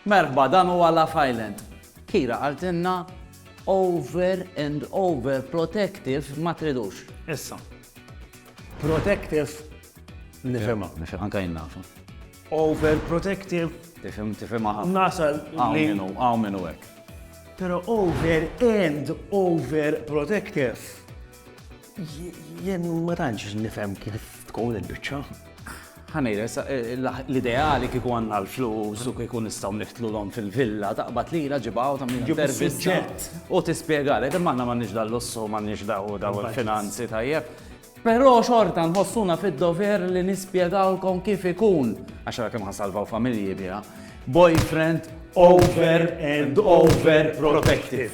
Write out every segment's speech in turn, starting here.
Merħba, dan huwa Love Island. Kira qaltilna over and over protective ma tridux. Issa. Protective nifhimha. Nifhem anke jien nafha. Over protective. Tifhem tifhimha ħafna. Nasal li. Hawn minnu, hawn minnu hekk. Però over and over protective. Jien ma tantx nifhem kif tkun il-biċċa. Ħanejra, l-ideali kieku għandna l-flus u kieku nistgħu niftlu l fil-villa, taqbad li la ġibaw ta' minn intervista. U tispjegalek, imma aħna m'għandniex dal-lussu, m'għandniex daw daw il-finanzi tajjeb. Però xorta nħossuna fid-dover li nispjegawlkom kif ikun, għax kemm ħasalvaw familji biha, boyfriend over and over protective.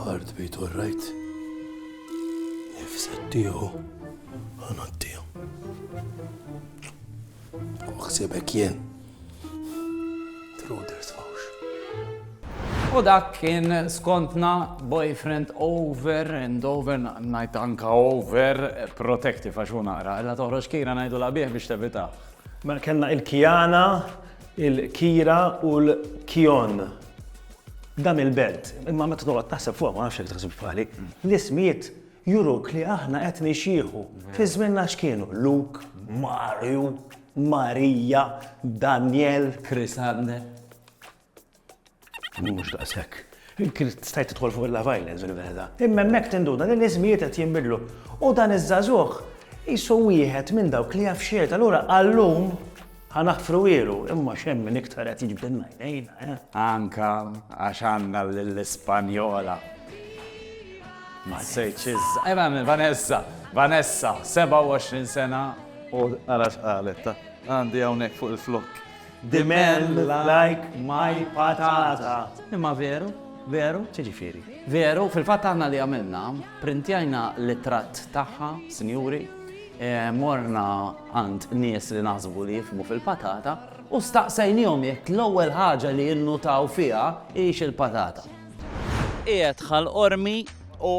Hard beat all right. Nifset tiegħu ħana tiegħu. U ħsibek jien. Truders fawx. U dak kien skontna boyfriend over and over, najt anka over protective għax u naqra, illa toħroġ kira najdu la biex tevita. Mela kellna il-Kiana, il-Kira u l-Kion. Dam il-belt, imma meta toqgħod taħseb fuq ma nafx jekk taħsibx bħali, l-ismijiet juruk li aħna qed nixjieħu. Fi żmienna x'kienu? Luk, Marju, Marija, Daniel. Chris Abner. Mhux daqshekk. Kien stajt tidħol fuq il-Love Island fil-verità. Imma hemmhekk tinduda li l-iżmijiet qed jinbidlu. U dan iż-żagħżugħ qisu wieħed minn dawk li jaf x'jgħid. Allura għal-lum ħa naħfru ilu, imma x'hemm min iktar qed jiġbdilna għajnejna, eh? Anka għax għandna lill-Ispanjola. Ma sejtx iż. Ejma minn Vanessa, Vanessa, 27 sena. U ara x'qalet ta. Għandi hawnhekk fuq il-flokk. The man like my patata. Imma veru, veru? X'jiġifieri? Veru, fil-fatt aħna li għamilna, printjajna l-ittratt tagħha, sinjuri, eh, morna għand nies li naħsbu li jifmu fil-patata u staqsejnihom jekk l-ewwel ħaġa li jinnutaw fiha hix il-patata. Qiegħed ħal qormi u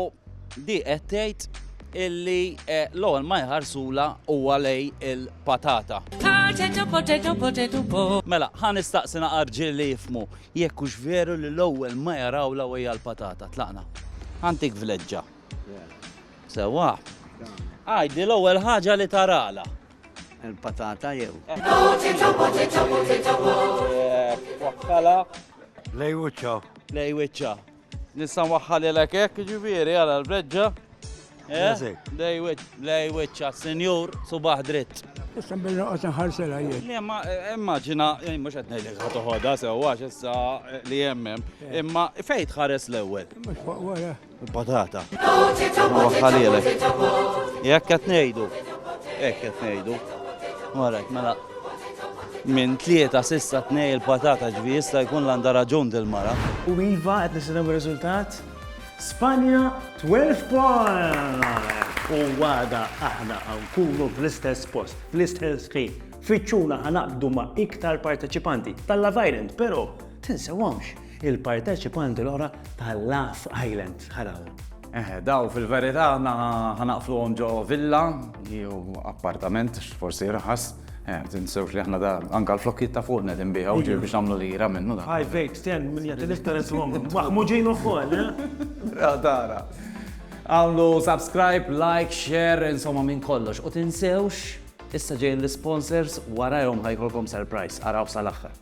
di qed tgħid illi l-ewwel ma jħarsulha huwa lejn il-patata. Mela, ħa nistaqsi naqra rġiel li jifhmu jekk hux veru li l-ewwel ma jarawlha u hija l-patata. Tlaqna. Ħa ntik vleġġa. Sewwa? Għidi l-ewwel ħaġa li taralha. Il-patata jew. Wakkalha Lej wiċċa. Lej wiċċa. Nista' nwaħħalilek hekk ġifieri għala l-breġġa. Eh? Lej wiċċa, senjur, subaħ dritt. Issa bil noqgħod nħarsela jien. Imma eh, immaġina, eh, mhux qed ngħidlek ħadd toħodha sewwa issa li hemm. Imma fejn tħares l-ewwel? Mhux fuq wara. Il-patata. Huwa ħalilek. Jekk qed ngħidu. Hekk qed ngħidu. Warek, mela. Minn tlieta sissa tnej il-patata ġvi jista' jkun l-għandha raġun dil-mara. U iva qed nistennew ir-riżultat. Spanja 12 point! u għada aħna għankunu fl-istess post, fl-istess ħin. Fiċċuna ħanaqdu ma' iktar parteċipanti tal-Love Island, pero tinsewamx il-parteċipanti l-oħra ta' Laugh Island Ħarawa. Eħe, daw fil-verità aħna ħanaqfluhom ġo villa, jew appartament, forsi raħas. Eh, tinsewx li aħna da anka l-flokkiet ta' fuqna din biħa uġi biex nagħmlu lira minnu da. Five, eight, ten, minn jagħti l-iktar iswom. Maħmuġin ukoll, eh? Dara. Għamlu subscribe, like, share, insomma minn kollox. U tinsewx, issa ġejn l-sponsors warajhom ħajkolkom surprise, araw sal-aħħar.